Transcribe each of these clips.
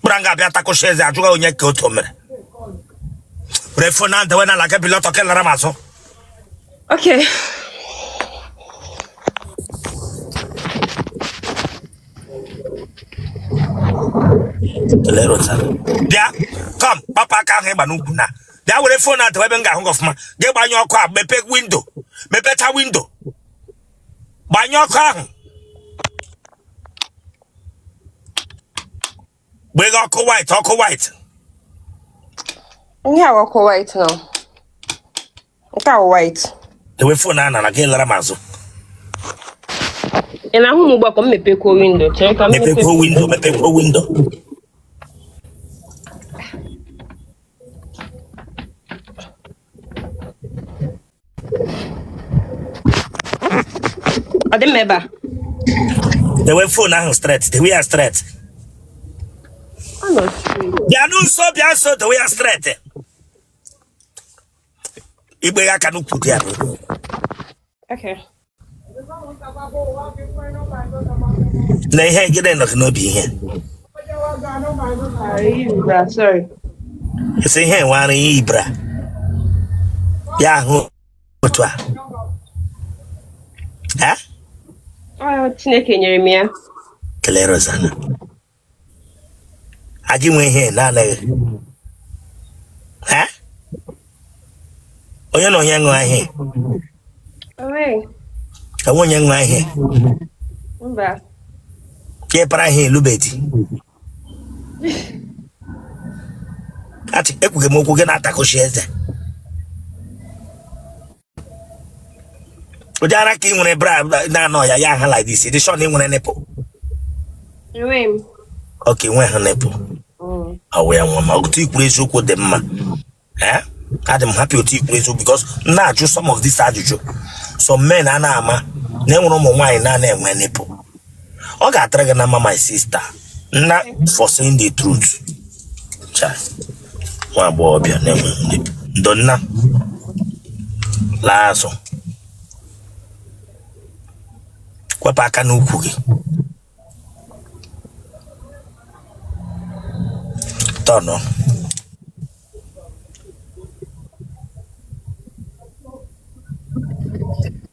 kpụra nga abịa takụcha eze ajụghị onye ka otu mere were fon a dewe na ala gị bilie ọtọ ke lara m azụ Okay. bịa come kpapụ aka ahụ ị gba n'ukwu na bịa were fon a dewe ebe m ga-ahụ gị ọfụma gị gbanye ọkụ a mepe windo mepecha windo gbanye ọkụ ahụ nweghị ọkụ white ọkụ white ihe a ọkụ white now nke a white dewe fon a n'ala gị lara m azụ ị na-ahụ m ugbu a ka m mepekwuo windo chere ka m mepekwuo windo mepekwuo windo ọ dị mma ebe a dewe fon ahụ straight dewe ya straight ọ nọ straight. bịanụ nso bịa nso dewe ya straight ị gba aka n'ukwu dị ya n'olu. Okay. na ihe gịnị nọ gị n'obi ihe esi ihe nwere i yi bra ya ahụ otu a Chineke nyere m ya kelere Rosanna aji nwe ihe na-anaghị ha onye na onye ṅụọ ihe enwe onye ṅụọ ihe ka ịpara ihe elubedi achị ekwughị m okwu gị na-atakụchi eze ụdị ara ka ị nwere bra na-anọ ya ya ha like this dị sure na ị nwere nipple ok nwehụ nipple ọ wụ ya nwa m otu i kwuru eziokwu dị mma eh? adị m happy otu i kwuru eziokwu because m na-ajụ some of this ajụjụ some men ana ama na e nwere ụmụ nwaanyị na-ana enwe nipple ọ ga-adịrị gị na mma my sister na for saying the truth chai nwa agbọghọbịa na-enwe ndo nna laa azụ kwapụ aka n'ukwu gị turn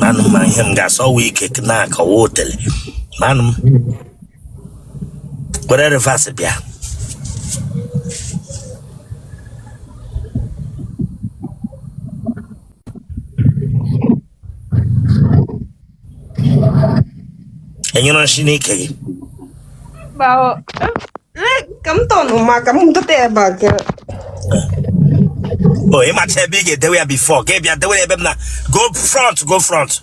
manum ma ihe m ga-asọ wee ike na-akọwa otele manum were reverse bịa enwere nshị n'ike gị ka m turn ma ka m dote back o ịmacha ebe ị ga-edewe ya before ka ị bịa dewe ya ebe m na go front go front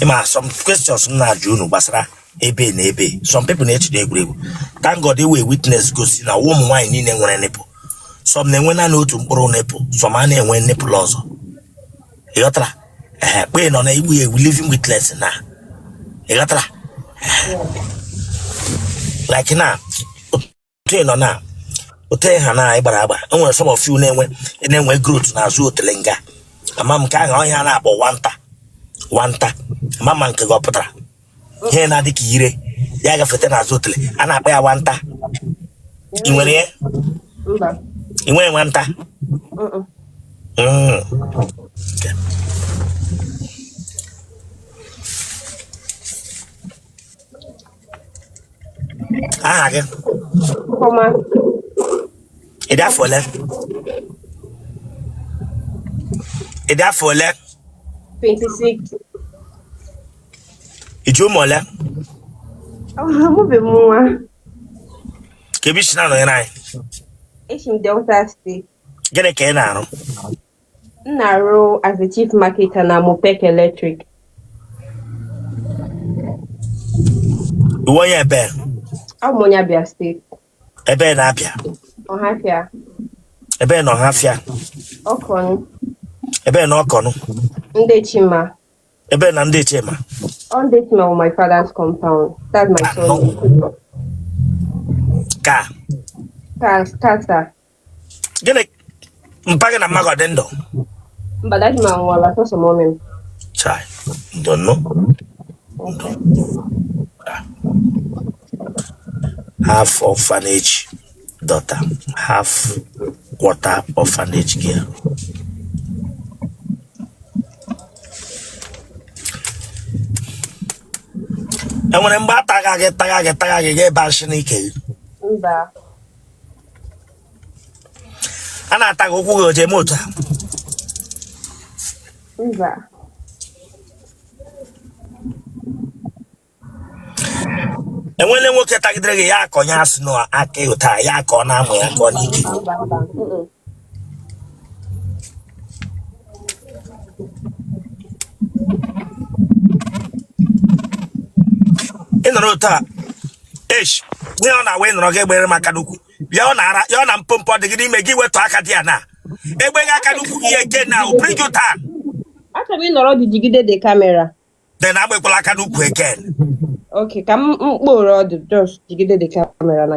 ịma some questions m na-ajụ unu gbasara ebe na ebe some people na-echide egwuregwu thank God enwere witness gosi na ụmụ nwaanyị niile nwere nipple some na-enwe naanị otu mkpụrụ nipple some a na-enwe nipple ọzọ ịghọtara ee kpe nọ na ị bụ a living witness na ịghọtara like na otu ị nọ na otu ị ha na ị gbara agba enwere some of you na-enwe growth n'azụ otele nga ama m nke ahụ ihe a na-akpọ nwanta nwanta ama m ma nke gị ọ pụtara ihe na-adị ka ire ya gafete n'azụ otele a na-akpọ ya nwanta ị nwere ya Mba. ị nwere nwanta Mm-mm. Mm. Okay. aha gị Ọma. ị dị afọ ole ị dị afọ ole 26. ị ji ụmụ ole Amụbeghị m nwa. kee ebe i si na-anọnyere anyị Esi m Delta State. gịnị ka ị na-arụ M na-arụ as a chief marketer na Mopek Electric. Ị wụ onye ebe Abụ m onye Abia State. ebe na Abia Ọhafịa, ebe na Ọhafịa Okon, ebe na Okon Ndị Chima. ebe na Ndị Chima Ọ Ndị Chima wụ my father's compound. That's my son. ka Ka- Tata. gịnị mpa gị na mma gị dị ndụ mba daddy m anwụọla sọsọ mummy m chai ndo ndo half orphanage daughter half quarter orphanage girl enwere mgbe a taga gị taga gị taga gị ga ebe achị n'ike gị mba a na-ata gị ụkwụ gị oje eme otu a mba enwele nwoke tagidere gị ya akọ ya asị na aka ịhụta ya akọ na amụ ya akọ n'ike mba mba mm-mm. ị nọrọ otu a esh ihe ọ na-awa ị nọrọ gị egbere m aka n'ukwu ya ọ na-ara ya ọ na mpompo dị gị n'ime gị wetụ aka dị ya na egbe gị aka n'ukwu again I'll bring you down Achọrọ m ị nọrọ gị jigide the camera. then egbekwala aka n'ukwu again Okay, ka m mkpụrụ ọdụ just jigide the camera na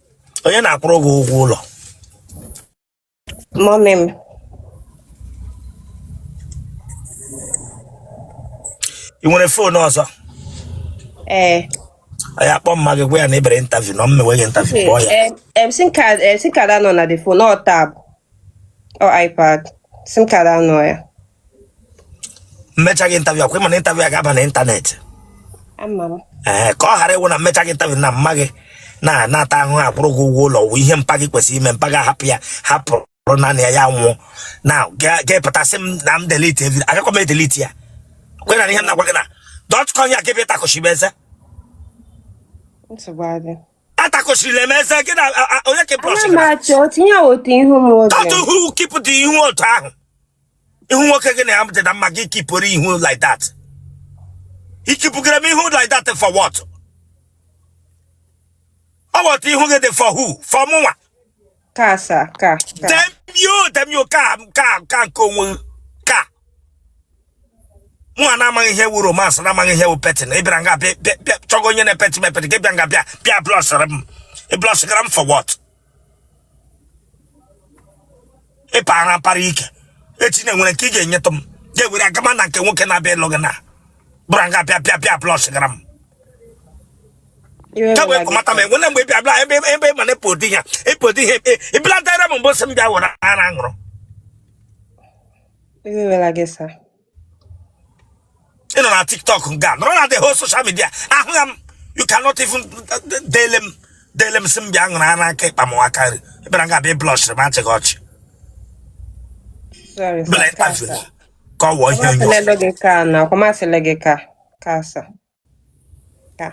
onye na-akwụrụ gị ụgwọ ụlọ mọmị m ị nwere foonu ọzọ ee anyị akpọ mma gị gwa ya na ị bịara intaviu na m mewe gị intaviu kpọọ ya Em, em, sim card em, sim card anọ na the phone or tab or ipad sim card anọ ya m mechaa gị intaviu akwa ị ma na intaviu a ga-aba na ịntanetị ee ka ọ ghara ịwụ na m mechaa gị intaviu na mma gị na-ata ahụhụ akwụrụ gị ụgwọ ụlọ wụ ihe mpa gị kwesịrị ime mpa gị ahapụ ya hapụrụ bụrụ naanị ya ya nwụọ na gị epụta sị m na m delete evi agakwa m edelete ya kwe na ihe m na-agwa gị na dọtkọn ya gebe ịtakụchi m eze atakụchirila m eze gị na onye kipụrụ otu ihu otu ahụ ihu nwoke gị na ya dị na mma gị kipụrụ ihu like that ị kipụgara m ihu like that for what ọ wụ that ihu gị dị for who for mụnwa ka sa ka ka demio demio ka ka ka nke onwe gị, ka mụnwa na-amaghị ihe wu romance na-amaghị ihe wu petting ị bịara nga bịa bịa- bịa chọga onye na-epeti m epeti gị bịa nga bịa bịa blọshịrị m ị blọshịgara m for what ị para apara ike i che na e nwere nke ị ga-enyetụ m ga-ewere agama na nke nwoke na-abịa ịlụ gị na bịara nga bịa bịa bịa blọshịgara m kemgbe ka ị mata m enwere mgbe bịa bịa ebe ebe mana ịpụ ụdị ya ịpụ ụdị ihe ị bịaletara m mbụ sị m bịa were ara ṅụrụ ị nọ na tiktok nga nọrọ na the whole social media ahụghị m you cannot even dele m dele m sị m bịa ṅụrụ ara aka ịkpa m aka nri ị bịara nga bịa blọshịrị m achịga ọchị Sorry, bela sir. ịkpafere ka ọ wụọ ihe onye ọzọ Kwamasịla gị ka na kwamasịla gị ka ka sa. ka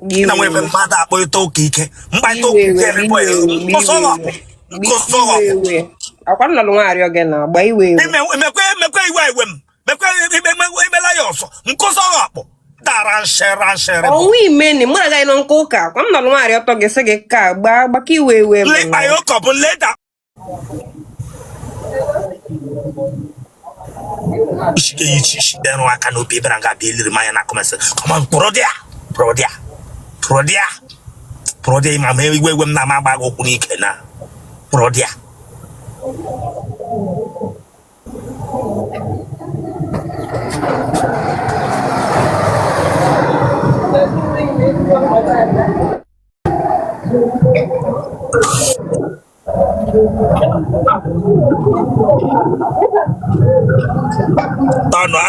gị na nwere mmadụ akpọ ịta ụka ike mkparịta ụka ike emekwa ya kpọsọrọpụ kpọsọrọpụ akwa m nọlụ nwaarị oge na agba iwe iwe emekwa emekwa iwe iwe m mekwa imela ya ọsọ nkụsọrọpụ dara nshe ranshe ọnwa imeni mụ agaghị nọ nke ụka akwa m nọlụ nwaarị ọtọ gị sị gị ka gbaa gbaka iwe iwe m lekpa ya ụkọ bụ leda ishike ya ichi ishi bịarụ aka n'obi ebe na nga abịa eliri m anya na kọmensị kọma mkpụrụ dị ya pụrụ dị ya pụrụ dị ya pụrụ dị ya ma ma iwe iwe m na-ama agba gị okwu n'ike na pụrụ dị ya Tanụ a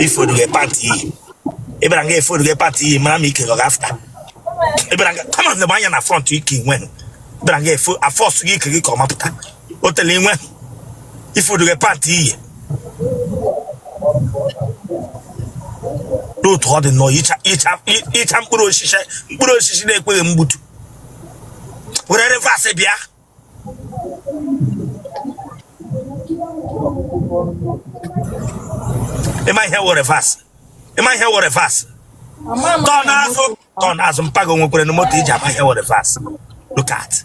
ifodu gị pati iyi ị bịara nga efodu gị pati iyi mara ma ike gọga after ị bịara nga come on na anya na front ike when ị bịara nga a-force ike gị ka ọ mapụta otele inwe ifodu gị pati iyi n'otu ọ dị nnọọ icha icha i- icha mkpụrụ osisi mkpụrụ osisi na-ekweghị mgbutu were reverse bịa ị ma ihe wụ reverse ị ma ihe wụ reverse turn azụ turn azụ mpa gị o nwekwere na moto ị ji ama ihe wụ reverse look at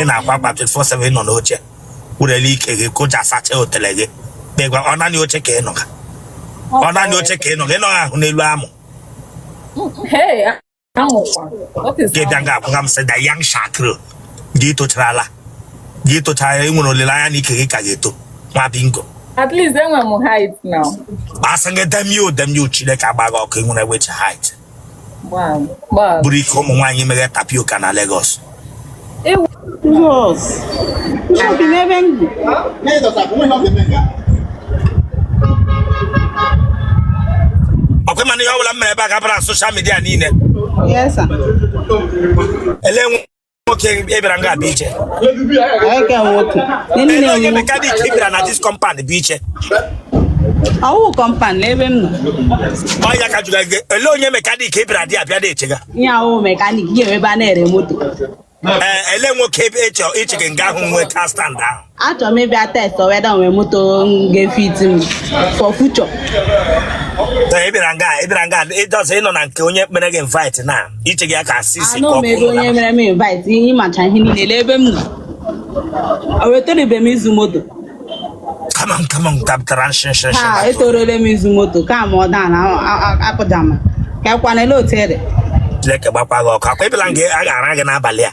ị na-akwa akwa 24/7 nọ n'oche wurele ike gị koja asacha otele gị kpegwa ọ naanị oche ka ị nọ ọ naanị oche ka ị nọ ị nọghị ahụ n'elu amụ gị bịa ga agwaga m sị the young shall grow gị tocharala gị tochara ị nwere olileanya na ike gị ka ga-eto nwa bingo At least enwe m height now. Asị m gị damn you damn you Chineke agba gị ọkụ ị nwere which height buru ike ụmụ nwaanyị mee tapioka na Lagos ọkwa ị ma na ihe ọ bụla m mere ebe a ga-abara social media niile Yes, sir. ele nwe nwoke ị bịara nga bụ iche ele onye mechanic ị bịara na this compound bụ iche ọ wụ compound n'ebe m nọ ọya ka jụga gị ele onye mechanic ị bịara dị abịa na-echega ihe ọ wụ mechanic ga-ewebe a na-ere moto ele nwoke ebe ị chọ iche gị nga ahụ nwee ka stand ahụ achọrọ m ịbịa test whether nwere moto ga-efit m for future ị bịara nga ị bịara nga ịjọsọ ị nọ na nke onye mere gị invite na iche gị aka asịsị anọ m ebe onye mere m invite ihe ị macha ihe niile lee ebe m nọ o weterebe m izu moto kama kama tabtara nshinshin ha etorole m izu moto kama ọ daa na akụjama ka ekwanele otere Chineke gbakwa gị ọkụ ọ kwa ị bịala nga a ga-ara gị n'abalị a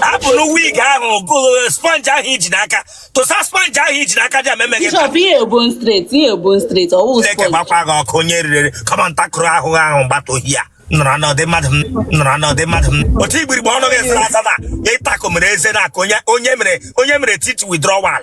hapụ na wig ahụ gụrụ sponge ahụ i ji n'aka tụsa sponge ahụ i ji n'aka dị ameme gị Chineke gbakwa gị ọkụ onye riri kọma ntakụrụ ahụ ahụ gbata ọhịa nọrọ n'ọdị mmadụ m nọrọ n'ọdị mmadụ m otu igbirigbe ọnụ gị sara asa na ịtakụ mere eze na-akụ onye mere onye mere teeth withdrawal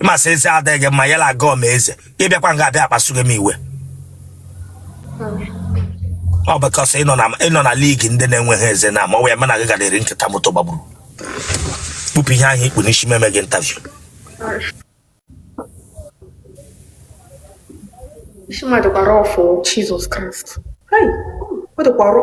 ị ma sị eze adịghị gị mma ya na gọọ ma eze ị bịakwa nga abịa akpasughị m iwe ọ because ị nọ na ị nọ na league ndị na-enweghị eze na ma ọ wee mana gị gara eri nkịta moto gbagburu kpụpụ ihe ahụ i kpu n'isi meme gị interview Isi mmadụ gbara ọfụ Jizọs Kraịst. Hai, ọ dịkwa ọrụ.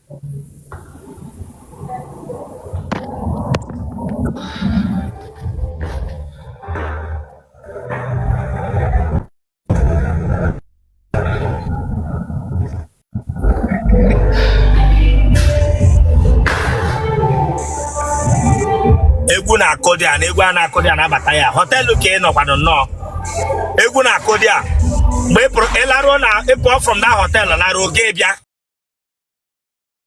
egwu na-akụ there na egwu a na-akụ there na-abata ya hotel ka ị nọkwanụ nnọọ egwu na-akụ there mgbe ị pụrụ ị laruo na ị pụọ from that hotel laruo gị bịa